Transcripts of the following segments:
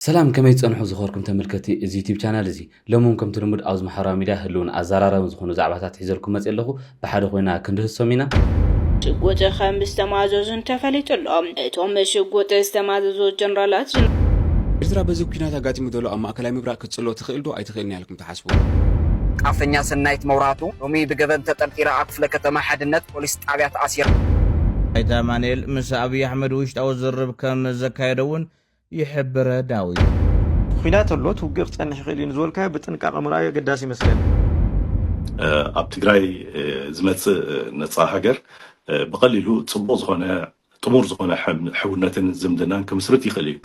ሰላም ከመይ ትጸንሑ ዝኸርኩም ተመልከቲ እዚ ዩቱብ ቻናል እዚ። ሎሚ ውን ከምቲ ልሙድ ኣብዚ ማሕበራዊ ሚድያ ህልውን ኣዛራራብን ዝኾኑ ዛዕባታት ሒዘልኩም መጽየ ኣለኹ። ብሓደ ኮይና ክንድህሶም ኢና። ሽጉጥ ከም ዝተማዘዙን ተፈሊጡ ኣሎ። እቶም ሽጉጥ ዝተማዘዙ ጀነራላት። ኤርትራ በዚ ኩናት ኣጋጢሙ ዘሎ ኣብ ማእከላይ ምብራቅ ክትጽሎ ትኽእል ዶ ኣይትኽእልን እያ ኢልኩም ትሓስቡ? ጣፈኛ ሰናይት መብራህቱ ሎሚ ብገበን ተጠርጢራ ኣብ ክፍለ ከተማ ሓድነት ፖሊስ ጣብያ ተኣሲራ። ኣይተ ኣማኒኤል ምስ ኣብይ ኣሕመድ ውሽጣዊ ዝርርብ ከም ዘካየደ እውን ይሕብረ ዳዊት። ኹናት ኣሎ እቲ ውግእ ክፀንሕ ይኽእል እዩ ንዝበልካዮ ብጥንቃቐ ምርኣዩ ኣገዳሲ ይመስለኒ። ኣብ ትግራይ ዝመፅእ ነፃ ሃገር ብቐሊሉ ፅቡቕ ዝኾነ ጥሙር ዝኾነ ሕውነትን ዝምድናን ክምስርት ይኽእል እዩ።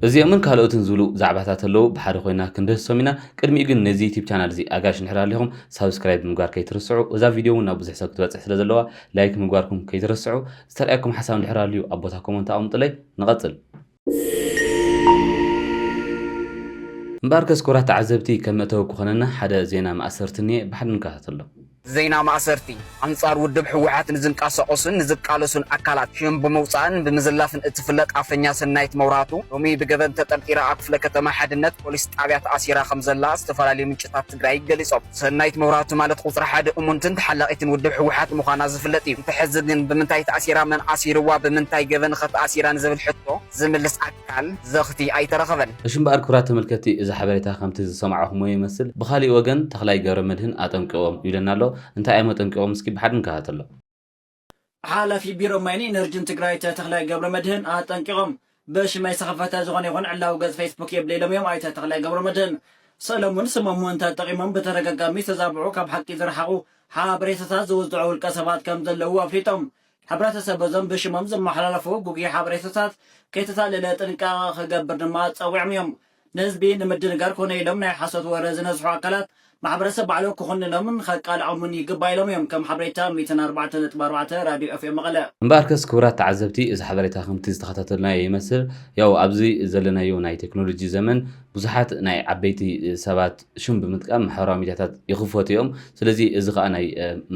እዚኦምን ካልኦትን ዝብሉ ዛዕባታት ኣለው ብሓደ ኮይና ክንድህሶም ኢና ቅድሚኡ ግን ነዚ ዩቲብ ቻናል እዚ ኣጋይሽ እንድሕር ኣሊኹም ሳብስክራይብ ምግባር ከይትርስዑ እዛ ቪድዮ ውን ናብ ብዙሕ ሰብ ክትበፅሕ ስለ ዘለዋ ላይክ ምግባርኩም ከይትርስዑ ዝተርኣየኩም ሓሳብ እንድሕር ኣልዩ ኣብ ቦታ ኮሞንት ኣቀምጡለይ ንቀጽል። እምበኣርከስ ኩቡራት ተዓዘብቲ ከም መእተዊ ክኾነና ሓደ ዜና ማእሰርቲ እንሄ ብሓደ ንከታተሎ። ዜና ማእሰርቲ፣ ኣንጻር ውድብ ህወሓት ንዝንቃሳቀሱን ንዝቃለሱን ኣካላት ሽም ብምውጻእን ብምዝላፍን እትፍለጥ ኣፈኛ ሰናይት መብራህቱ ሎሚ ብገበን ተጠርጢራ ኣብ ክፍለ ከተማ ሓድነት ፖሊስ ጣብያ ተኣሲራ ከምዘላ ዝተፈላለዩ ምንጭታት ትግራይ ገሊፆም። ሰናይት መብራህቱ ማለት ቁፅሪ ሓደ እሙንትን ተሓላቒትን ውድብ ህወሓት ምዃና ዝፍለጥ እዩ። እቲ ሕዚ ግን ብምንታይ ተኣሲራ፣ መን ኣሲርዋ፣ ብምንታይ ገበን ኸ ተኣሲራ ንዝብል ሕቶ ዝምልስ ኣካል፣ ዘኽቲ፣ ኣይተረኸበን። እሺ እምበኣር ክብራት ተመልከትቲ እዚ ሓበሬታ ከምቲ ዝሰማዕኹምዎ ይመስል። ብኻሊእ ወገን ተኽላይ ገብረመድህን ኣጠንቂቖም ይብለና ኣሎ። እንታይ እዮም ኣጠንቂቖም እስኪ ብሓደ ንከታተሎ። ሓላፊ ቢሮ ማይን ኢነርጅን ትግራይ ኣይተ ተኽላይ ገብረመድህን ኣጠንቂቖም። ብሽመይ ዝተኸፈተ ዝኾነ ይኹን ዕላዊ ገፅ ፌስቡክ የብለይ ኢሎም እዮም ኣይተ ተኽላይ ገብረመድህን። ስእሎም እውን ስሞም ምእንቲ ተጠቒሞም ብተደጋጋሚ ዝተዛብዑ ካብ ሓቂ ዝረሓቑ ሓበሬታታት ዝውዝዑ ውልቀ ሰባት ከምዘለዉ ኣፍሊጦም። ሕብረተሰብ በዞም ብሽሞም ዝመሓላለፉ ጉጉይ ሓበሬታታት ከይተታለለ ጥንቃቐ ክገብር ድማ ፀዊዖም እዮም። ንህዝቢ ንምድንጋር ኮነ ኢሎም ናይ ሓሶት ወረ ዝነዝሑ ኣካላት፣ ማሕበረሰብ ባዕሉ ክኹንኖምን ኸቃልዖምን ይግባእ ኢሎም እዮም፣ ከም ሓበሬታ ሚእትን ኣርባዕተን ነጥቢ ኣርባዕተ ራዲዮ ኤፍኤም መቐለ። እምበኣርከስ ክቡራት ተዓዘብቲ እዚ ሓበሬታ ከምቲ ዝተኸታተልናዮ ይመስል ያው ኣብዚ ዘለናዮ ናይ ቴክኖሎጂ ዘመን ብዙሓት ናይ ዓበይቲ ሰባት ሽም ብምጥቃም ማሕበራዊ ሚድያታት ይኽፈቱ እዮም ስለዚ እዚ ከኣ ናይ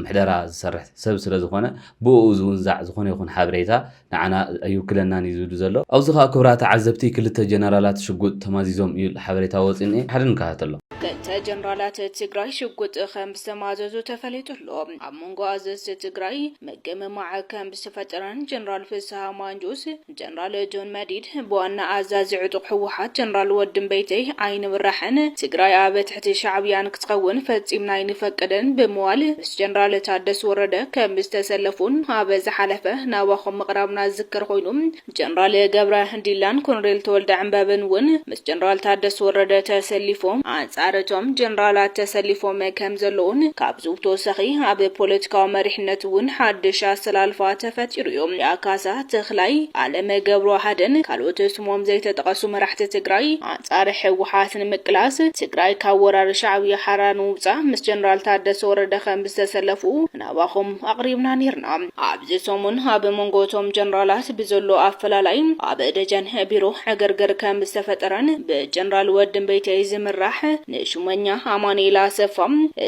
ምሕደራ ዝሰርሕ ሰብ ስለዝኾነ ብእኡ ዝውንዛዕ ዝኾነ ይኹን ሓበሬታ ንዓና ኣይውክለናን እዩ ዝብል ዘሎ። ኣብዚ ከኣ ክብራ ተዓዘብቲ ክልተ ጀነራላት ሽጉጥ ተማዚዞም እዩ ዝል ሓበሬታ ወጺኡ እኒኤ። ብሓደ ንከታተሎ። ክልተ ጀነራላት ትግራይ ሽጉጥ ከም ዝተማዘዙ ተፈሊጡ ኣሎ። ኣብ መንጎ ኣዘዝቲ ትግራይ ምግምማዕ ከም ዝተፈጠረን ጀነራል ፍስሃ ማንጁስ፣ ጀነራል ጆን መዲድ፣ ብዋና ኣዛዚ ዕጡቕ ህወሓት ጀነራል ወዲ እምበይተይ ኣይንብራሕን ትግራይ ኣብ እቲ ሻዕብያን ክትኸውን ፈጺምና ኣይንፈቅድን ብምባል ምስ ጀነራል ታደስ ወረደ ከም ዝተሰለፉን ኣብ ዝሓለፈ ናባኹም ምቕራብና ዝዝከር ኮይኑ፣ ጀነራል ገብረ ዲላን ኮሎኔል ተወልደ ዕንበብን እውን ምስ ጀነራል ታደስ ወረደ ተሰሊፎም ኣንጻር እቶም ጀነራላት ተሰሊፎም ከም ዘለዉን ካብዚ ብተወሳኺ ኣብ ፖለቲካዊ መሪሕነት እውን ሓድሽ ኣሰላልፋ ተፈጢሩ እዩ። ዳካሳ፣ ተኽላይ፣ ኣለመ ገብረዋህድን ካልኦት ስሞም ዘይተጠቐሱ መራሕቲ ትግራይ፣ ፃረ ህወሓት ንምቅላስ፣ ትግራይ ካብ ወራሪ ሻዕብያ ሓራ ንምውፃእ ምስ ጀነራል ታደሰ ወረደ ከምዝተሰለፉ ናባኹም ኣቕሪብና ነይርና። ኣብዚ ሰሙን ኣብ መንጎ እቶም ጀነራላት ብዘሎ ኣፈላላይ ኣብ ደጀን ቢሮ ዕግርግር ከምዝተፈጠረን ብጀነራል ወድምበይተይ ዝምራሕ ንሹመኛ ኣማኑኤል ኣሰፋ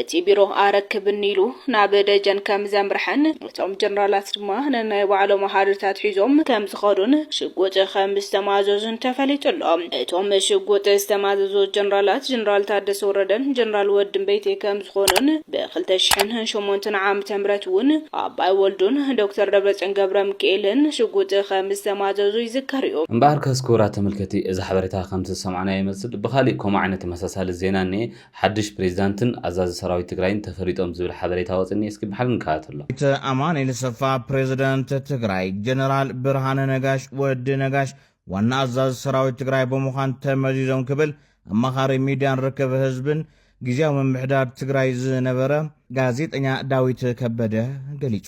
እቲ ቢሮ ኣረክብኒ ኢሉ ናብ ደጀን ከምዘምርሐን እቶም ጀነራላት ድማ ነናይ ባዕሎም ኣሃዱታት ሒዞም ከምዝኸዱን ሽጉጥ ከምዝተማዘዙን ተፈሊጡ ኣሎ። እቶም ሽጉጥ ዝተማዘዙ ጀነራላት ጀነራል ታደሰ ወረደን ጀነራል ወድምበይቴ ከምዝኾኑን ብኽልተ ሽሕን ሸሞንተን ዓመተ ምህረት እውን ኣባይ ወልዱን ዶክተር ደብረፅዮን ገብረምኪኤልን ሽጉጥ ከምዝተማዘዙ ይዝከር እዩ። እምበኣርከስ ክቡራት ተመልከቲ እዚ ሓበሬታ ከምቲ ዝሰማዕናዮ ይመስል ብኻሊእ ከምኡ ዓይነት ተመሳሳሊ ዜና እኒኤ። ሓዱሽ ፕሬዚዳንትን ኣዛዚ ሰራዊት ትግራይን ተፈሊጦም ዝብል ሓበሬታ ወፅእኒ እስኪ ብሓደ ንከታተሎ። ኣይተ ኣማኒኤል ኣሰፋ ፕሬዚዳንት ትግራይ ጀነራል ብርሃነ ነጋሽ፣ ወዲ ነጋሽ፣ ዋና ኣዛዚ ሰራዊት ትግራይ ብምዃን ተመዚዞም ክብል ኣማኻሪ ሚድያን ርክብ ህዝብን ጊዚያዊ ምምሕዳር ትግራይ ዝነበረ ጋዜጠኛ ዳዊት ከበደ ገሊፁ።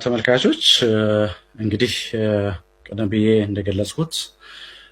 ተመልካቾች እንግዲህ ቀደም ብዬ እንደገለጽኩት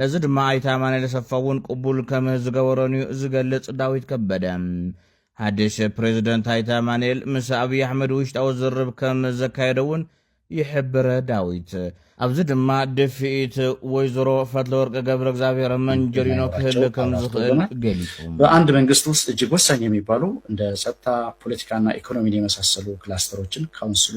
ነዚ ድማ ኣይተ ኣማኑኤል ኣሰፋ እውን ቅቡል ከም ዝገበሮን እዩ ዝገልፅ። ዳዊት ከበደ ሓድሽ ፕሬዝደንት ኣይተ ኣማኑኤል ምስ ኣብይ ኣሕመድ ውሽጣዊ ዝርርብ ከም ዘካየደ እውን ይሕብር። ዳዊት ኣብዚ ድማ ድፍኢት ወይዘሮ ፈትለወርቅ ገብረእግዚኣብሔር መንጀሪኖ ክህሉ ከም ዝኽእል ገሊፁ። በኣንድ መንግስት ውስጥ እጅግ ወሳኝ የሚባሉ እንደ ፀጥታ፣ ፖለቲካና ኢኮኖሚን የመሳሰሉ ክላስተሮችን ካውንስሉ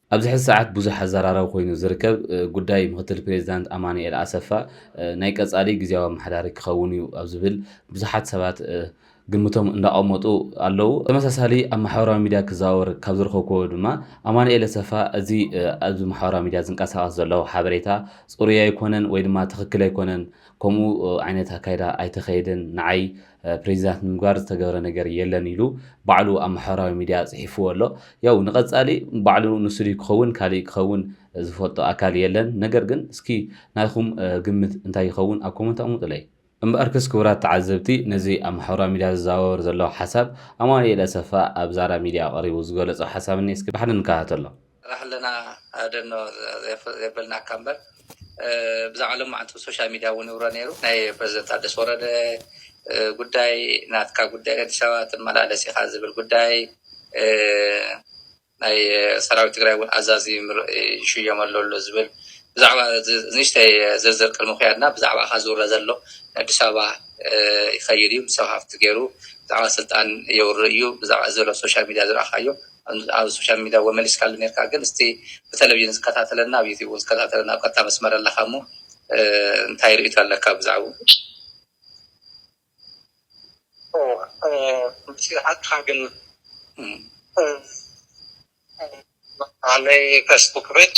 ኣብዚ ሕዚ ሰዓት ብዙሕ ኣዘራራቢ ኮይኑ ዝርከብ ጉዳይ ምክትል ፕሬዚዳንት ኣማኑኤል ኣሰፋ ናይ ቀፃሊ ግዝያዊ ኣመሓዳሪ ክኸውን እዩ ኣብ ዝብል ብዙሓት ሰባት ግምቶም እንዳቐመጡ ኣለው። ተመሳሳሊ ኣብ ማሕበራዊ ሚድያ ክዘዋወር ካብ ዝረኸብኩዎ ድማ ኣማኑኤል ኣሰፋ እዚ ኣብዚ ማሕበራዊ ሚድያ ዝንቀሳቐስ ዘሎ ሓበሬታ ፅሩይ ኣይኮነን ወይ ድማ ትኽክል ኣይኮነን ከምኡ ዓይነት ኣካይዳ ኣይተኸየደን ንዓይ ፕሬዚዳንት ንምግባር ዝተገብረ ነገር የለን ኢሉ ባዕሉ ኣብ ማሕበራዊ ሚድያ ፅሒፍዎ ኣሎ። ያው ንቐፃሊ ባዕሉ ንሱ ድዩ ክኸውን ካሊእ ክኸውን ዝፈልጦ ኣካል የለን። ነገር ግን እስኪ ናይኹም ግምት እንታይ ይኸውን ኣብ ኮመንት ኣቕምጡለይ። እምበኣርከስ ክቡራት ተዓዘብቲ ነዚ ኣብ ማሕበራዊ ሚድያ ዝዘዋወር ዘሎ ሓሳብ ኣማኑኤል ኣሰፋ ኣብ ዛራ ሚድያ ቀሪቡ ዝገለፆ ሓሳብ እኒሀ እስኪ ብሓደ ንከታተሎ። ንሕልና ደኖ ዘየበልናካ እምበር ብዛዕባ ሎማዕንቲ ብሶሻል ሚድያ እውን ይውረ ነይሩ ናይ ፕረዚደንት ታደሰ ወረደ ጉዳይ ናትካ ጉዳይ ኣዲስ ኣበባ ትመላለስ ኢካ ዝብል ጉዳይ ናይ ሰራዊት ትግራይ እውን ኣዛዚ ይሽየም ኣሎ ኣሎ ዝብል ብዛዕባ ንእሽተይ ዝርዝር ቅድሚ ክያድና ብዛዕባ እካ ዝውረ ዘሎ ንኣዲስ ኣበባ ይኸይድ እዩ ምስ ሰብ ሃፍቲ ገይሩ ብዛዕባ ስልጣን የውርእ እዩ ብዛዕባ ዘሎ ሶሻል ሚድያ ዝረኣካዮ ኣብ ሶሻል ሚድያ እወ መሊስካሉ ኔርካ ግን እስቲ ብተለቪዥን ዝከታተለና ኣብ ዩቱብ እውን ዝከታተለና ኣብ ቀጥታ መስመር ኣለካ እሞ እንታይ ርእይቶ ኣለካ ብዛዕባ ሓቅካ ግን ናይ ፌስቡክ ፔጅ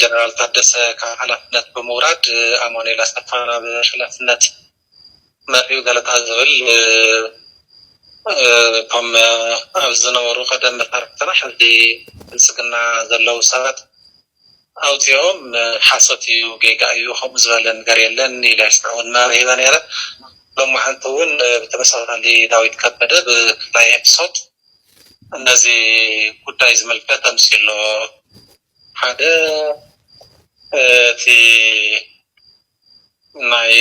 ጀነራል ታደሰ ካብ ሓላፍነት ብምውራድ ኣማኑኤል ኣሰፋ ናብ ሓላፍነት መሪኡ ገለታ ዝብል እቶም ኣብ ዝነበሩ ቀደም መሳርሕትና ሕዚ ብልፅግና ዘለዉ ሰባት ኣውፂኦም ሓሶት እዩ ጌጋ እዩ ከምኡ ዝበለ ነገር የለን ኢለ እውን መብርሂበ ነይረ። ሎማዓንቲ እውን ብተመሳሳሊ ዳዊት ከበደ ብፍላይ ኤፕሶት ነዚ ጉዳይ ዝምልከት ኣምስዩ ኣሎ። ሓደ እቲ ናይ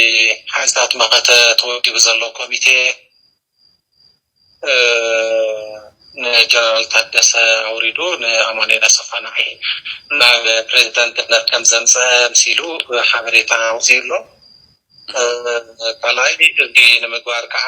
ሓይልታት መኸተ ተወዲቡ ዘሎ ኮሚቴ ንጀነራል ታደሰ ኣውሪዱ ንኣማኑኤል ኣሰፋ ንዓይ ናብ ፕሬዝዳንትነት ከም ዘምፀኣ ኣምሲሉ ሓበሬታ ኣውፂኡ ኣሎ። ካልኣይ እዚ ንምግባር ከዓ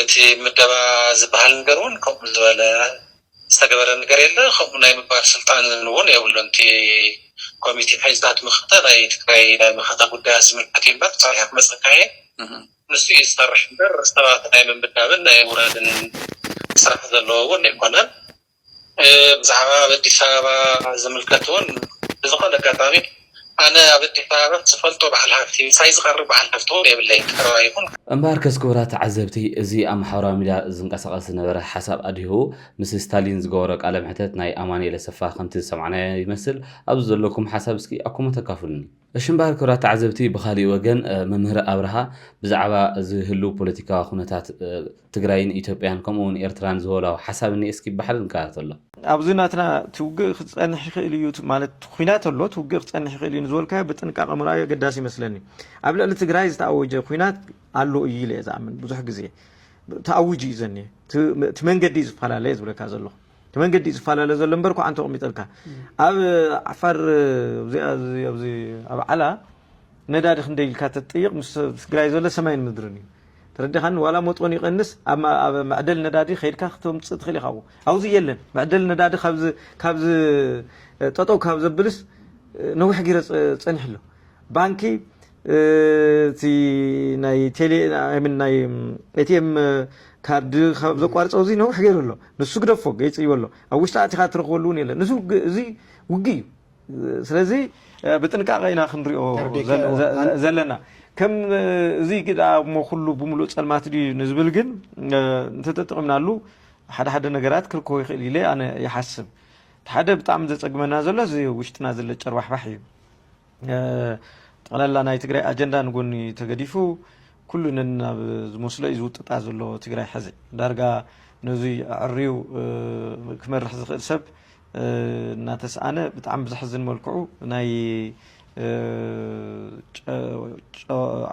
እቲ ምደባ ዝበሃል ነገር እውን ከምኡ ዝበለ ዝተገበረ ነገር የለ ከምኡ ናይ ምባል ስልጣን እውን የብሉን እቲ ኮሚቴ ሓይልታት መኸተ ናይ ትግራይ ናይ መኸተ ጉዳያት ዝምልከት እዩ እምበር ፀኒሑ ክመፀካ እየ ንሱ እዩ ዝሰርሕ እምበር ሰባት ናይ ምምዳብን ናይ ምውራድን ስራሕ ዘለዎ እውን ኣይኮነን። ብዛዕባ ኣብ ኣዲስ ኣበባ ዝምልከት እውን ብዝኾነ ኣጋጣሚ ኣነ ኣብ ኣዲስ ኣበባ ዝፈልጦ በዓል ሃፍቲ ምሳይ ዝቐርብ በዓል ሃፍቲ እውን የብለይን ቀረባ ይኹን ካልእ። እምበኣርከስ ክቡራት ተዓዘብቲ እዚ ኣብ ማሕበራዊ ሚድያ ዝንቀሳቐስ ዝነበረ ሓሳብ ኣድሂቡ ምስ ስታሊን ዝገበሮ ቃለ መሕተት ናይ ኣማኒኤል ኣሰፋ ከምቲ ዝሰማዕናዮ ይመስል ኣብዚ ዘለኩም ሓሳብ እስኪ ኣኩሞ ተካፍሉኒ። እሽምባር ክብራት ተዓዘብቲ ብኻሊእ ወገን መምህር ኣብርሃ ብዛዕባ እዚ ህልው ፖለቲካዊ ኩነታት ትግራይን ኢትዮጵያን ከምኡ እውን ኤርትራን ዝወላው ሓሳብ እኒኤ እስኪ ብሓደ ንከታተሎ። ኣብዚ ናትና እቲ ውግእ ክፀንሕ ይኽእል እዩ ማለት ኹናት ኣሎ እቲ ውግእ ክፀንሕ ይኽእል እዩ ንዝበልካዮ ብጥንቃቐ ምርኣዩ ኣገዳሲ ይመስለኒ ኣብ ልዕሊ ትግራይ ዝተኣወጀ ኹናት ኣሎ እዩ ኢለ እየ ዝኣምን ብዙሕ ግዜ ተኣዊጁ እዩ ዘኒሀ እቲ መንገዲ እዩ ዝፈላለ እየ ዝብለካ ዘለኹ መንገዲ እዩ ዝፈላለ ዘሎ እምበር ኳዕ እንተቕሚጠልካ ኣብ ዓፋር ኣብ ዓላ ነዳዲ ክንደይ ኢልካ ተጥይቕ ምስ ትግራይ ዘሎ ሰማይን ምድርን እዩ ተረዲኻኒ ዋላ መጦን ይቐንስ ኣብ መዕደል ነዳዲ ከይድካ ክትምፅእ ትኽእል ኢኻ ኣብዚ የለን መዕደል ነዳዲ ካብዚ ጠጠው ካብ ዘብልስ ነዊሕ ጊረ ፀኒሑ ኣሎ ባንኪ እቲ ናይ ቴሌ ኣይ ምን ናይ ኤቲኤም ካርድ ካብ ዘቋርጾ እዚ ነዊሕ ገይሩ ኣሎ ንሱ ግደፎ ገይጽይዎ ኣሎ ኣብ ውሽጢ ኣቲኻ ትረኽበሉ እውን የለን እዚ ውግ- እዚ ውግእ እዩ ስለዚ እ፣ ብጥንቃቐ ኢና ክንሪኦ ተርዲእካ ዘለ- እዎ። ዘ- ኣን- ዘ- ዘለና ከም እ፣ እዚ ግዳ እሞ ኩሉ ብምሉእ ጸልማት ድዩ ንዝብል ግን እ፣ እንተተጠቒምናሉ ሓደ ሓደ ነገራት ክርከቦ ይኽእል ኢለ ኣነ ይሓስብ እቲ ሓደ ብጣዕሚ ዘጸግመና ዘሎ እዚ ውሽጥና ዘሎ ጨርባሕባሕ እዩ ጠቕላላ ናይ ትግራይ ኣጀንዳ ንጎኒ ተገዲፉ ኩሉ ነናብ ዝመስሎ እዩ ዝውጥጣ ዘሎ ትግራይ ሕዚ ዳርጋ ነዙይ ኣዕርዩ ክመርሕ ዝኽእል ሰብ እናተስኣነ ብጣዕሚ ብዘሕዝን መልክዑ ናይ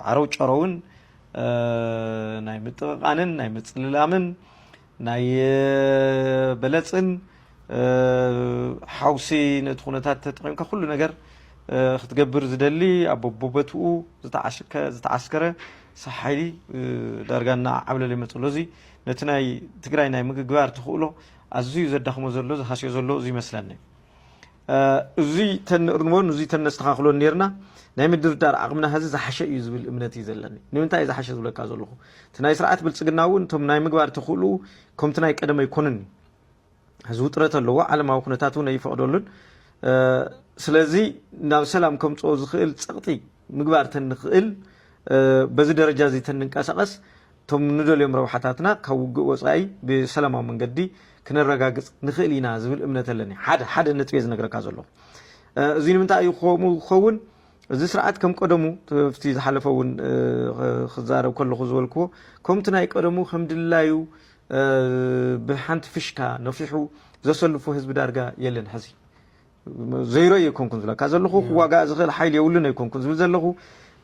ዓረው ጨረውን ናይ ምጥቕቓንን ናይ ምፅልላምን ናይ በለጽን ሓውሲ ነቲ ኩነታት ተጠቒምካ ኩሉ ነገር ክትገብር ዝደሊ ኣብ ቦበትኡ ዝተዓስከረ ሓይሊ ዳርጋ እናዓብለለ ይመፅ ኣሎ እዚ ነቲ ናይ ትግራይ ናይ ምግግባር ተኽእሎ ኣዝዩ ዘዳኽሞ ዘሎ ዝሃስዮ ዘሎ እዚ ይመስለኒ እዙይ ተንእርምዎን እዙይ ተነስተኻኽሎን ኔርና ናይ ምድርዳር ዓቕምና ሀዚ ዝሓሸ እዩ ዝብል እምነት እዩ ዘለኒ። ንምንታይ እዩ ዝሓሸ ዝብለካ ዘለኹ እቲ ናይ ስርዓት ብልፅግና እውን እቶም ናይ ምግባር ተኽእልኡ ከምቲ ናይ ቀደም ኣይኮንን እዩ። እዚ ውጥረት ኣለዎ፣ ዓለማዊ ኩነታት እውን ኣይፈቕደሉን። ስለዚ ናብ ሰላም ከምፅኦ ዝኽእል ፀቕጢ ምግባር ተንኽእል በዚ ደረጃ እዚ ተንንቀሳቐስ እቶም ንደልዮም ረብሓታትና ካብ ውግእ ወጻኢ ብሰላማዊ መንገዲ ክነረጋግጽ ንኽእል ኢና ዝብል እምነት ኣለኒ። ሓደ ሓደ ነጥቤ ዝነግረካ ዘሎ እዚ ንምንታይ እዩ ከምኡ ክኸውን እዚ ስርዓት ከም ቀደሙ እቲ ዝሓለፈ እውን ክዛረብ ከለኹ ዝበልክዎ ከምቲ ናይ ቀደሙ ከም ድላዩ ብሓንቲ ፍሽካ ነፊሑ ዘሰልፎ ህዝቢ ዳርጋ የለን ሕዚ ዘይረዩ ኣይኮንኩን ዝብለካ ዘለኹ ክዋጋእ ዝኽእል ሓይሊ የብሉን ኣይኮንኩን ዝብል ዘለኹ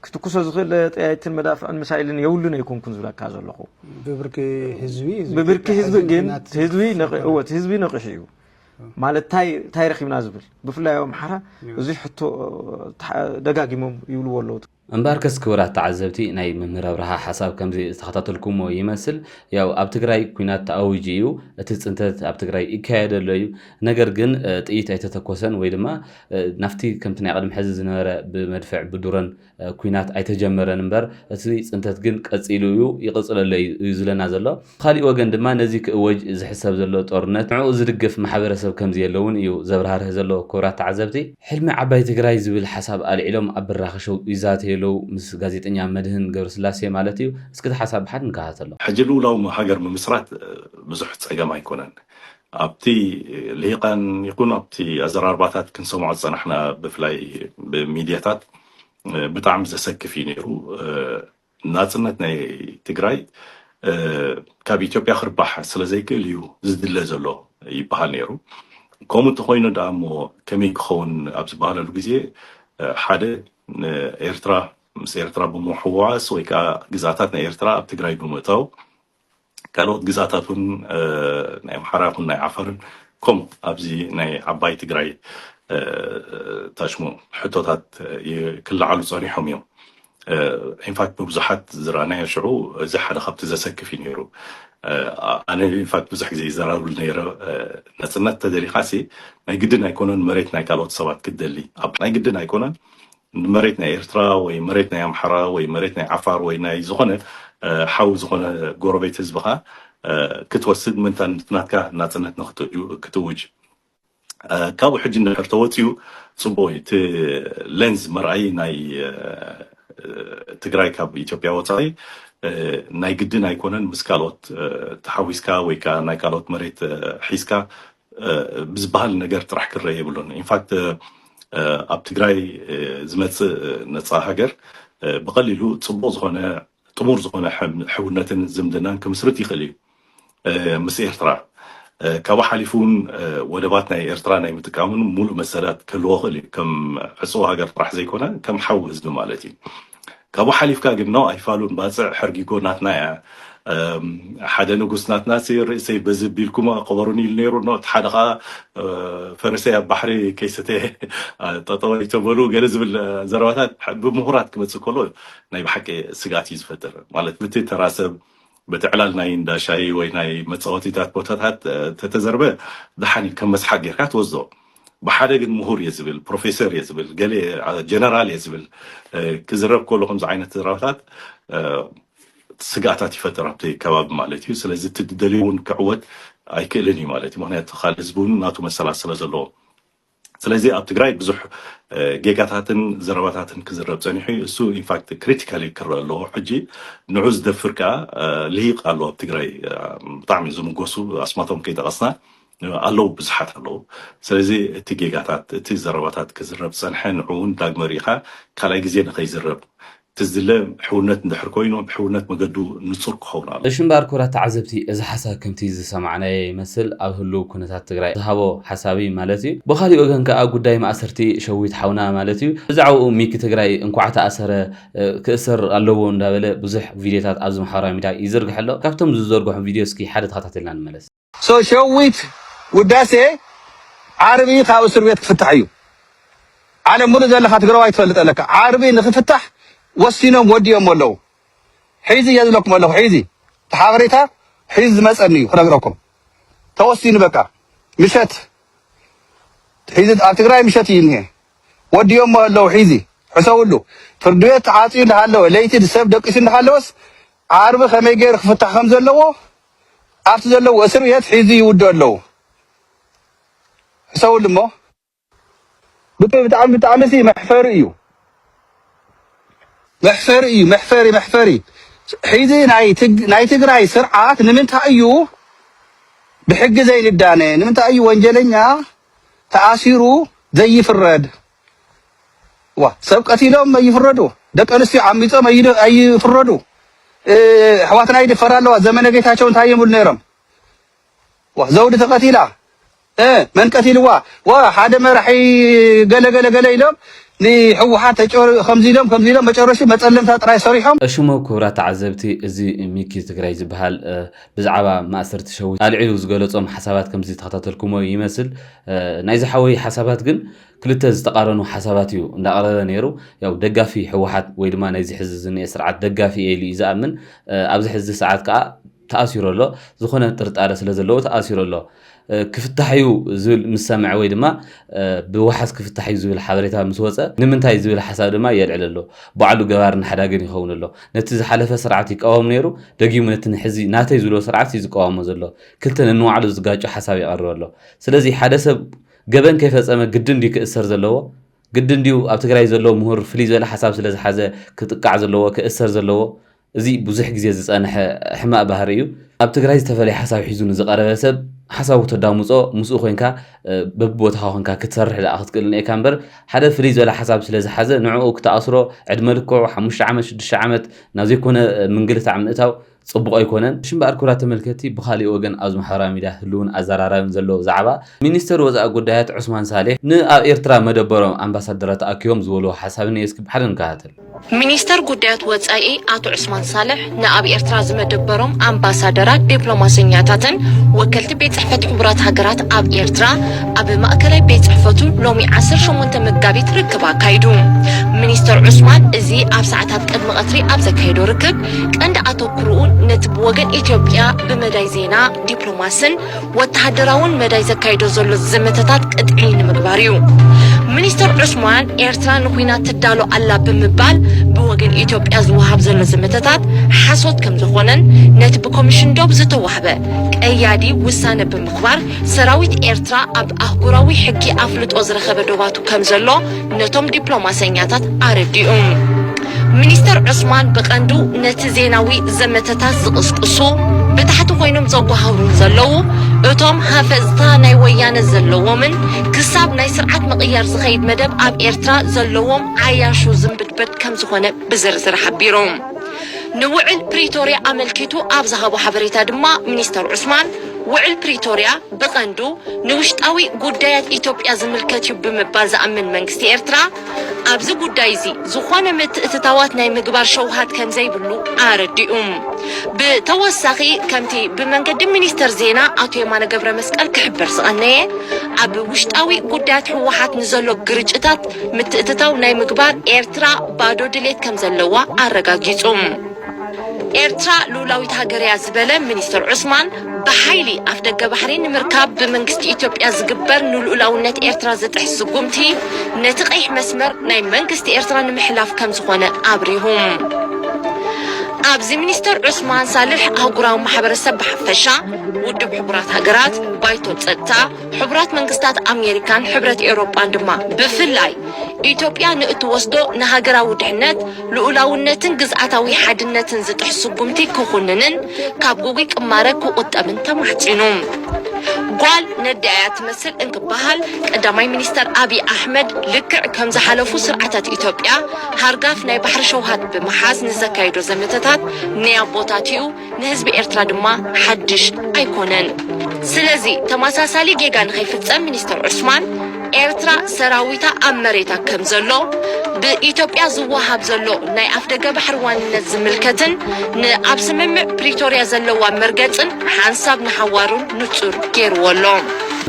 ክትኩሶ ዝኽእል ጠያይትን መዳፍዕን ሚሳይልን የብሉን ኣይኮንኩን ዝብለካ ዘለኹ ብብርኪ ህዝቢ ብብርኪ ህዝቢ ግን ህዝቢ እወት ህዝቢ ነቂሑ እዩ ማለት እንታይ ረኪብና ዝብል ብፍላይ ኣብ ኣምሓራ እዚ ሕቶ ደጋጊሞም ይብልዎ ኣለዉ እምበኣርከስ ክቡራት ተዓዘብቲ ናይ መምህር ኣብርሃ ሓሳብ ከምዚ ዝተኸታተልኩሞ ይመስል። ያው ኣብ ትግራይ ኩናት ተኣዊጁ እዩ፣ እቲ ፅንተት ኣብ ትግራይ ይካየድ ኣሎ እዩ። ነገር ግን ጥይት ኣይተተኮሰን ወይ ድማ ናፍቲ ከምቲ ናይ ቅድሚ ሕዚ ዝነበረ ብመድፍዕ ብዱሮን ኩናት ኣይተጀመረን እምበር እቲ ፅንተት ግን ቀፂሉ እዩ ይቕፅለሉ እዩ ዝብለና ዘሎ። ብኻሊእ ወገን ድማ ነዚ ክእወጅ ዝሕሰብ ዘሎ ጦርነት ንዕኡ ዝድግፍ ማሕበረሰብ ከምዘየለ እውን እዩ ዘብራህርህ ዘሎ ክቡራት ተዓዘብቲ ሕልሚ ዓባይ ትግራይ ዝብል ሓሳብ ኣልዒሎም ኣብ ብራኸ ሾው ይዛተዩ ኣለው ምስ ጋዜጠኛ መድህን ገብረስላሴ ማለት እዩ እስኪ እቲ ሓሳብ ብሓድ ንከታተሎ። ሕጂ ልኡላዊ ሃገር ምምስራት ብዙሕ ጸገም ኣይኮነን። ኣብቲ ልሂቃን ይኹን ኣብቲ ኣዘራርባታት ክንሰምዖ ዝጸናሕና ብፍላይ ብሚድያታት ብጣዕሚ ዘሰክፍ እዩ ነይሩ። ናጽነት ናይ ትግራይ ካብ ኢትዮጵያ ክርባሕ ስለ ዘይክእል እዩ ዝድለ ዘሎ ይበሃል ነይሩ። ከምኡ እንተኾይኑ ደኣ እሞ ከመይ ክኸውን ኣብ ዝበሃለሉ ግዜ ሓደ ንኤርትራ ምስ ኤርትራ ብምሕዋስ ወይ ከዓ ግዝኣታት ናይ ኤርትራ ኣብ ትግራይ ብምእታው ካልኦት ግዝኣታት እውን ናይ ኣምሓራ ይኹን ናይ ዓፋርን ከምኡ ኣብዚ ናይ ዓባይ ትግራይ ታሽሙ ሕቶታት ክለዓሉ ፀኒሖም እዮም ኢንፋክት ብብዙሓት ዝረኣናዮ ሽዑ እዚ ሓደ ካብቲ ዘሰክፍ እዩ ነይሩ ኣነ ኢንፋክት ብዙሕ ግዜ ይዘራብሉ ነይረ ነፅነት ተደሊኻሲ ናይ ግድን ኣይኮነን መሬት ናይ ካልኦት ሰባት ክትደሊ ናይ ግድን ኣይኮነን መሬት ናይ ኤርትራ ወይ መሬት ናይ ኣምሓራ ወይ መሬት ናይ ዓፋር ወይ ናይ ዝኾነ ሓው ዝኾነ ጎረቤት ህዝብኻ ክትወስድ ምእንታን እቲ ናትካ ናጽነት ንክትእውጅ ካብኡ ሕጂ እንድሕር ተወጺኡ ጽቡቕ እዩ እቲ ሌንዝ መርኣዪ ናይ ትግራይ ካብ ኢትዮጵያ ወጻኢ ናይ ግድን ኣይኮነን ምስ ካልኦት ተሓዊስካ ወይ ከዓ ናይ ካልኦት መሬት ሒዝካ ብዝበሃል ነገር ጥራሕ ክረእ የብሉን። ኢንፋክት ኣብ ትግራይ ዝመፅእ ነፃ ሃገር ብቐሊሉ ፅቡቕ ዝኾነ ጥሙር ዝኾነ ሕውነትን ዝምድናን ክምስርት ይኽእል እዩ ምስ ኤርትራ ካብኡ ሓሊፉ እውን ወደባት ናይ ኤርትራ ናይ ምጥቃምን ሙሉእ መሰላት ክህልዎ ክእል እዩ ከም ዕፅው ሃገር ጥራሕ ዘይኮነ ከም ሓው ህዝቢ ማለት እዩ ካብኡ ሓሊፍካ ግን ን ኣይፋሉን ባጽዕ ሕርጊጎ ናትና እያ ሓደ ንጉስ ናትና ሲ ርእሰይ በዚ ቢልኩም ቅበሩኒ ኢሉ ነይሩ ን እቲ ሓደ ከኣ ፈረሰይ ኣብ ባሕሪ ከይሰተየ ጠጠው ኣይተበሉ ገለ ዝብል ዘረባታት ብምሁራት ክመጽእ ከሎ ናይ ብሓቂ ስግኣት እዩ ዝፈጥር ማለት ብቲ ተራ ሰብ በቲ ዕላል ናይ እንዳ ሻሂ ወይ ናይ መጻወቲታት ቦታታት ተተዘርበ ደሓን እዩ ከም መስሓቅ ጌርካ ትወስዶ ብሓደ ግን ምሁር እየ ዝብል ፕሮፌሰር እየ ዝብል ገለ ጀነራል እየ ዝብል ክዝረብ ከሎ ከምዚ ዓይነት ዘረባታት ስግኣታት ይፈጥር ኣብቲ ከባቢ ማለት እዩ ስለዚ እቲ ደልዩ እውን ክዕወት ኣይክእልን እዩ ማለት እዩ ምክንያቱ ካልእ ህዝቢ እውን ናቱ መሰላት ስለ ዘለዎ ስለዚ ኣብ ትግራይ ብዙሕ ጌጋታትን ዘረባታትን ክዝረብ ፀኒሑ እዩ እሱ ኢንፋክት ክሪቲካሊ ክረአ ኣለዎ ሕጂ ንዑ ዝደፍር ከዓ ልሂቅ ኣሎ ኣብ ትግራይ ብጣዕሚ ዝምጎሱ ኣስማቶም ከይጠቐስና ኣለዉ ብዙሓት ኣለዉ ስለዚ እቲ ጌጋታት እቲ ዘረባታት ክዝረብ ፀንሐ ንዑ እውን ዳግመ ርኢኻ ካልኣይ ግዜ ንኸይዝረብ እቲ ዝድለ ሕውነት እንድሕር ኮይኑ ብሕውነት መገዱ ንጹር ክኸውን ኣለዎ። እሺ እምበኣር ኩብራት ተዓዘብቲ እዚ ሓሳብ ከምቲ ዝሰማዕናዮ ይመስል ኣብ ህሉው ኩነታት ትግራይ ዝሃቦ ሓሳብ እዩ ማለት እዩ። ብኻሊእ ወገን ከኣ ጉዳይ ማእሰርቲ ሸዊት ሓውና ማለት እዩ ብዛዕባኡ ሚኪ ትግራይ እንኳዕ ተኣሰረ ክእሰር ኣለዎ እንዳበለ ብዙሕ ቪድዮታት ኣብዚ ማሕበራዊ ሚድያ ይዝርግሕ ኣሎ። ካብቶም ዝዘርግሖም ቪድዮ እስኪ ሓደ ተኸታቲልና ንመለስ። So ሸዊት ውዳሴ ዓርቢ ካብ እስር ቤት ክፍታሕ እዩ ዓለም ሙሉእ ዘለካ ትግራዋይ ትፈልጥ ኣለካ ዓርቢ ንክፍታሕ ወሲኖም ወዲኦሞ ኣለዉ ሒዚ እየ ዝብለኩም ኣለኩ ሒዚ እቲ ሓበሬታ ሒዚ ዝመፀኒ እዩ ክነግረኩም ተወሲኑ በቃ ምሸት ሒዚ ኣብ ትግራይ ምሸት እዩ እኒሀ ወዲኦሞ ኣለዉ ሒዚ ሕሰብሉ ፍርዲ ቤት ተዓፅዩ እንዳሃለወ ለይቲ ሰብ ደቂሱ እንዳሃለወስ ዓርቢ ከመይ ገይሩ ክፍታሕ ከም ዘለዎ ኣብቲ ዘለዎ እስር ቤት ሒዙ ይውድኦ ኣለው ሕሰውሉ እሞ ብጣዕሚ ብጣዕሚ ብጣዕሚ ሲ መሕፈሪ እዩ መሕፈሪ እዩ መሕፈሪ መሕፈሪ ሒዚ ናይ ትግ- ናይ ትግራይ ስርዓት ንምንታይ እዩ ብሕጊ ዘይንዳነ ንምንታይ እዩ ወንጀለኛ ተኣሲሩ ዘይፍረድ ዋእ ሰብ ቀቲሎም ኣይፍረዱ ደቂ ኣንስትዮ ዓሚጾም ኣይድ- ኣይፍረዱ እ፣ ኣሕዋትና ይድፈራ ኣለዋ ዘመነ ጌታቸው እንታይ ይብሉ ነይሮም ዋ ዘውዲ ተቀቲላ እ፣ መን ቀቲልዋ ዋ ሓደ መራሒ ገለ ገለ ገለ ኢሎም ንሕወሓት ተጨር ከምዚ ኢሎም ከምዚ ኢሎም መጨረሹ መፀለምታ ጥራይ ሰሪሖም እሽሙ ክቡራት ተዓዘብቲ እዚ ሚኪ ትግራይ ዝበሃል እ፣ ብዛዕባ ማእሰርቲ ሸዊት ኣልዒሉ ዝገለፆም ሓሳባት ከምዚ ተኸታተልኩሞ ይመስል እ፣ ናይዚ ሓወይ ሓሳባት ግን ክልተ ዝተቃረኑ ሓሳባት እዩ እንዳቅረበ ነይሩ ያው ደጋፊ ሕወሓት ወይ ድማ ናይዚ ሕዚ ዝኒኤ ስርዓት ደጋፊ እየ ኢሉ እዩ ዝኣምን ኣብዚ ሕዚ ሰዓት ከዓ ተኣሲሩ ኣሎ ዝኾነ ጥርጣረ ስለ ዘለዎ ተኣሲሩ ኣሎ ክፍታሕ እዩ ዝብል ምስ ሰምዐ ወይ ድማ ብዋሓስ ክፍታሕ እዩ ዝብል ሓበሬታ ምስ ወፀ ንምንታይ ዝብል ሓሳብ ድማ የልዕል ኣሎ ባዕሉ ገባርን ሓዳግን ይኸውን ኣሎ ነቲ ዝሓለፈ ስርዓት ይቃወም ነይሩ ደጊሙ ነቲ ንሕዚ ናተይ ዝብሎ ስርዓት እዩ ዝቃወሞ ዘሎ ክልተ ነንባዕሉ ዝጋጮ ሓሳብ የቐርብ ኣሎ ስለዚ ሓደ ሰብ ገበን ከይፈጸመ ግድን ድዩ ክእሰር ዘለዎ? ግድን ድዩ ኣብ ትግራይ ዘሎ ምሁር ፍልይ ዝበለ ሓሳብ ስለ ዝሓዘ ክጥቃዕ ዘለዎ፣ ክእሰር ዘለዎ? እዚ ብዙሕ ግዜ ዝጸንሐ ሕማቅ ባህሪ እዩ። ኣብ ትግራይ ዝተፈለየ ሓሳብ ሒዙ ንዝቀረበ ሰብ ሓሳቡ ተዳምጾ ምስኡ ኮንካ በብቦታኻ ኮንካ ክትሰርሕ ደኣ ክትክእል ኔርካ እምበር ሓደ ፍልይ ዝበለ ሓሳብ ስለ ዝሓዘ ንዕኡ ክተኣስሮ ዕድመ ልክዑ ሓሙሽተ ዓመት ሽዱሽተ ዓመት ናብ ዘይኮነ ምንግልታዕ ምእታው ጽቡቕ ኣይኮነን። እሺ እምበኣር ክብራት ተመልከቲ ብኻሊእ ወገን ኣብዚ ማሕበራዊ ሚድያ ህሉውን ኣዛራራብን ዘሎ ብዛዕባ ሚኒስተር ወጻኢ ጉዳያት ዑስማን ሳልሕ ን ኣብ ኤርትራ መደበሮም ኣምባሳደራት ተኣኪቦም ዝበልዎ ሓሳብ እኔ እስኪ ብሓደ ንከታተል። ሚኒስተር ጉዳያት ወጻኢ ኣቶ ዑስማን ሳልሕ ን ኣብ ኤርትራ ዝመደበሮም ኣምባሳደራት ዲፕሎማሰኛታትን ወከልቲ ቤት ጽሕፈት ሕቡራት ሃገራት ኣብ ኤርትራ ኣብ ማእከላይ ቤት ጽሕፈቱ ሎሚ ዓሰርተ ሸሞንተ መጋቢት ርክብ ኣካይዱ። ሚኒስተር ዑስማን እዚ ኣብ ሰዓታት ቅድሚ ቀትሪ ኣብ ዘካየዶ ርክብ ቀንዲ ኣተኩርኡ ነቲ ብወገን ኢትዮጵያ ብመዳይ ዜና፣ ዲፕሎማስን ወተሃደራውን መዳይ ዘካይዶ ዘሎ ዘመተታት ቅጥዒ ንምግባር እዩ። ሚኒስተር ዑስማን ኤርትራ ንኲናት ትዳሎ ኣላ ብምባል ብወገን ኢትዮጵያ ዝወሃብ ዘሎ ዘመተታት ሓሶት ከም ዝኾነን ነቲ ብኮሚሽን ዶብ ዝተዋህበ ቀያዲ ውሳነ ብምኽባር ሰራዊት ኤርትራ ኣብ ኣህጉራዊ ሕጊ ኣፍልጦ ዝረኸበ ዶባቱ ከም ዘሎ ነቶም ዲፕሎማሰኛታት ኣረዲኡ። ሚኒስተር ዑስማን ብቐንዱ ነቲ ዜናዊ ዘመተታት ዝቕስቅሱ ብታሕቲ ኮይኖም ዘጓሃህሩን ዘለዉ እቶም ሃፈጽታ ናይ ወያነ ዘለዎምን ክሳብ ናይ ስርዓት ምቕያር ዝኸይድ መደብ ኣብ ኤርትራ ዘለዎም ዓያሹ ዝምብድበድ ከም ዝኾነ ብዝርዝር ሓቢሩ። ንውዕል ፕሪቶርያ ኣመልኪቱ ኣብ ዝሃቦ ሓበሬታ ድማ ሚኒስተር ዑስማን ውዕል ፕሪቶርያ ብቐንዱ ንውሽጣዊ ጉዳያት ኢትዮጵያ ዝምልከት እዩ ብምባል ዝኣምን መንግስቲ ኤርትራ፣ ኣብዚ ጉዳይ'ዚ ዝኾነ ምትእትታዋት ናይ ምግባር ሸውሃት ከምዘይብሉ ኣረዲኡ። ብተወሳኺ ከምቲ ብመንገዲ ሚኒስተር ዜና ኣቶ የማነ ገብረመስቀል ክሕበር ዝቐነየ፣ ኣብ ውሽጣዊ ጉዳያት ህወሓት ንዘሎ ግርጭታት ምትእትታው ናይ ምግባር ኤርትራ ባዶ ድሌት ከምዘለዋ ኣረጋጊጹ። ኤርትራ ልኡላዊት ሃገር'ያ ዝበለ ሚኒስተር ዑስማን፣ ብሓይሊ ኣፍደገ ባሕሪ ንምርካብ ብመንግስቲ ኢትዮጵያ ዝግበር ንልኡላውነት ኤርትራ ዝጥሕስ ስጉምቲ፣ ነቲ ቀይሕ መስመር ናይ መንግስቲ ኤርትራ ንምሕላፍ ከምዝኾነ ኣብሪሁ። ኣብዚ ሚኒስተር ዑስማን ሳልሕ ኣህጉራዊ ማሕበረሰብ ብሓፈሻ፣ ውድብ ሕቡራት ሃገራት፣ ባይቶ ጸጥታ፣ ሕቡራት መንግስታት ኣሜሪካን ሕብረት ኤውሮጳን ድማ ብፍላይ ኢትዮጵያ ንእትወስዶ ንሃገራዊ ድሕነት፣ ልኡላውነትን ግዝኣታዊ ሓድነትን ዝጥሕስ ስጉምቲ ክኹንንን ካብ ግጉይ ቅማረ ክቑጠብን ተማሕጺኑ። ጓል ነዲኣ እያ ትመስል እንክበሃል ቀዳማይ ሚኒስተር ኣብይ ኣሕመድ ልክዕ ከም ዝሓለፉ ስርዓታት ኢትዮጵያ ሃርጋፍ ናይ ባሕሪ ሸውሃት ብምሓዝ ንዘካይዶ ዘመተታት ንያቦታቲኡ ንህዝቢ ኤርትራ ድማ ሓድሽ ኣይኮነን። ስለዚ ተመሳሳሊ ጌጋ ንኸይፍጸም ሚኒስተር ዑስማን፣ ኤርትራ ሰራዊታ ኣብ መሬታ ከም ዘሎ፣ ብኢትዮጵያ ዝወሃብ ዘሎ ናይ ኣፍደገ ባሕሪ ዋንነት ዝምልከትን ንኣብ ስምምዕ ፕሪቶርያ ዘለዋ መርገጽን ሓንሳብ ንሓዋሩን ንጹር ገይርዎ ኣሎ።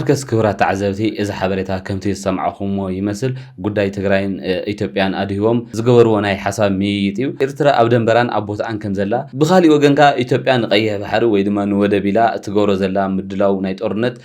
እንክስ ክብራት ተዓዘብቲ እዚ ሓበሬታ ከምቲ ዝሰማዕኹምዎ ይመስል። ጉዳይ ትግራይን ኢትዮጵያን ኣድሂቦም ዝገበርዎ ናይ ሓሳብ ምይይጥ እዩ። ኤርትራ ኣብ ደንበራን ኣብ ቦትኣን ከም ዘላ፣ ብኻሊእ ወገን ከኣ ኢትዮጵያ ንቀይሕ ባሕሪ ወይ ድማ ንወደብ ኢላ እትገብሮ ዘላ ምድላው ናይ ጦርነት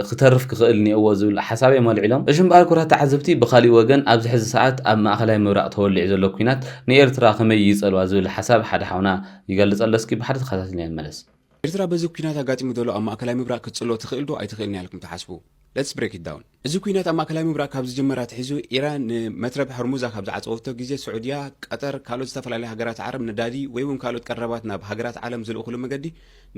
ክተርፍ ክኽእል ኔኦዎ ዝብል ሓሳብ እዮም ኣልዒሎም። እሺ እምበኣር ኩራት ተዓዘብቲ ብኻሊእ ወገን ኣብዚ ሕዚ ሰዓት ኣብ ማእኸላይ ምብራቕ ተወሊዑ ዘሎ ኩናት ንኤርትራ ከመይ ይጸልዋ ዝብል ሓሳብ ሓደ ሓውና ይገልጽ ኣሎ እስኪ ብሓደ ተኸታቲልና ንመለስ። ኤርትራ በዚ ኩናት ኣጋጢሙ ዘሎ ኣብ ማእከላይ ምብራቕ ክትጽልዎ ትኽእል ዶ ኣይትኽእልን'ያ ኢልኩም ትሓስቡ? Let's break it down። እዚ ኲናት ኣብ ማእከላይ ምብራቕ ካብ ዝጅምር ኣትሒዙ፣ ኢራን ንመትረብ ሆርሙዝ ካብ ዝዓጸወቶ ግዜ፣ ስዑድያ፣ ቀጠር፣ ካልኦት ዝተፈላለያ ሃገራት ዓረብ ነዳዲ ወይ'ውን ካልኦት ቀረባት ናብ ሃገራት ዓለም ዝልእኹሉ መገዲ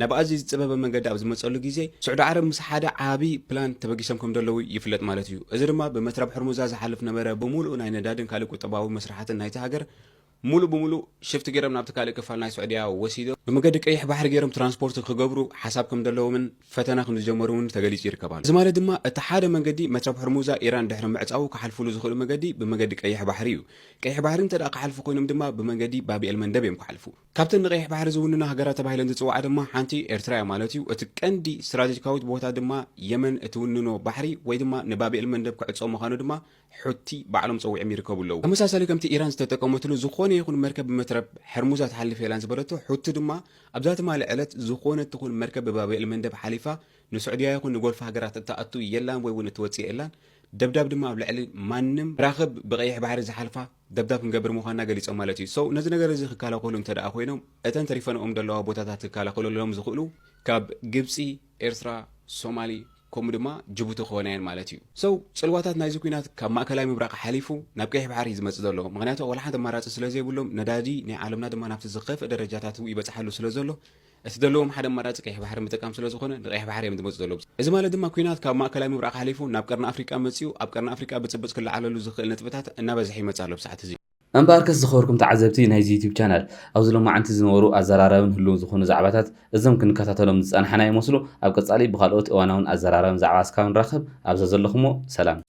ናብ ኣዝዩ ዝጸበበ መንገዲ ኣብ ዝመጸሉ ግዜ፣ ስዑዲ ዓረብ ምስ ሓደ ዓቢ ፕላን ተበጊሶም ከምዘለዉ ይፍለጥ ማለት እዩ። እዚ ድማ ብመትረብ ሆርሙዛ ዝሓልፍ ነበረ ብምሉኡ ናይ ነዳድን ካልእ ቁጠባዊ መስርሓትን ናይታ ሃገር ሙሉእ ብሙሉእ ሽፍት ገይሮም ናብቲ ካልእ ክፋል ናይ ሱዕድያ ወሲዶም ብመገዲ ቀይሕ ባሕሪ ገይሮም ትራንስፖርት ክገብሩ ሓሳብ ከምደለዎምን ፈተነ ክምዝጀመሩ ውን ተገሊፁ ይርከብ ኣሎ። እዚ ማለት ድማ እቲ ሓደ መንገዲ መትረብ ሑርሙዛ ኢራን ድሕሪ ምዕፃዉ ክሓልፉሉ ዝኽእሉ መገዲ ብመገዲ ቀይሕ ባሕሪ ዩ። ቀይሕ ባሕሪ እንተድኣ ክሓልፉ ኮይኖም ድማ ብመንገዲ ባብኤል መንደብ ዮም ክሓልፉ። ካብተን ንቀይሕ ባሕሪ ዝውንና ሃገራት ተባሂለን ዝፅውዓ ድማ ሓንቲ ኤርትራ ያ ማለት ዩ። እቲ ቀንዲ ስትራቴጂካዊት ቦታ ድማ የመን እትውንኖ ባሕሪ ወይ ድማ ንባብኤል መንደብ ክዕፆ ምዃኑ ድማ ሑቲ ባዕሎም ጸዊዕም ይርከቡ ኣለዉ። ተመሳሳሊ ከምቲ ኢራን ዝተጠቀመትሉ ዝኾነ ይኹን መርከብ ብመትረብ ሕርሙዝ ኣትሓልፍ የላን ዝበለቶ ሑቲ ድማ ኣብዛ ትማሊ ዕለት ዝኾነት ትኹን መርከብ ብባብኤል መንደብ ሓሊፋ ንሱዕድያ ይኹን ንጎልፍ ሃገራት እትኣቱ የላን ወይ ውን እትወጽእ የላን ደብዳብ ድማ ኣብ ልዕሊ ማንም መራኽብ ብቀይሕ ባሕሪ ዝሓልፋ ደብዳብ ክንገብር ምዃንና ገሊጾም ማለት እዩ። So ነዚ ነገር እዚ ክከላኸሉ እንተደኣ ኮይኖም እተን ተሪፈንኦም ዘለዋ ቦታታት ክከላኸለሎም ዝኽእሉ ካብ ግብጺ፣ ኤርትራ፣ ሶማሊ ከምኡ ድማ ጅቡቲ ክኾና እየን ማለት እዩ። So ጽልዋታት ናይዚ ኲናት ካብ ማእከላይ ምብራቕ ሓሊፉ ናብ ቀይሕ ባሕሪ እዩ ዝመጽእ ዘሎ። ምኽንያቱ ዋላ ሓንቲ ኣማራጺ ስለ ዘይብሎም፣ ነዳዲ ናይ ዓለምና ድማ ናብቲ ዝኸፍእ ደረጃታቱ ይበጽሓሉ ስለ ዘሎ፣ እቲ ዘለዎም ሓደ ኣማራጺ ቀይሕ ባሕሪ ምጥቃም ስለ ዝኾነ ንቀይሕ ባሕሪ እዮም ዝመጹ ዘለዉ። እዚ ማለት ድማ ኲናት ካብ ማእከላይ ምብራቕ ሓሊፉ ናብ ቀርኒ ኣፍሪቃ መጺኡ ኣብ ቀርኒ ኣፍሪቃ ብጽብጽ ክለዓለሉ ዝኽእል ነጥብታት እናበዝሐ ይመጽእ ኣሎ ብሰዓት እዚ። እምበኣርከስ ዝኸበርኩም ተዓዘብቲ ናይዚ ዩቱብ ቻናል፣ ኣብዚ ሎማዓንቲ ዝነበሩ ኣዘራራብን ህሉውን ዝኾኑ ዛዕባታት እዞም ክንከታተሎም ዝጸናሕና ይመስሉ፣ ኣብ ቀጻሊ ብኻልኦት እዋናውን ኣዘራራብን ዛዕባ እስካብ ንራኸብ ኣብ ዘዘለኹሞ ሰላም።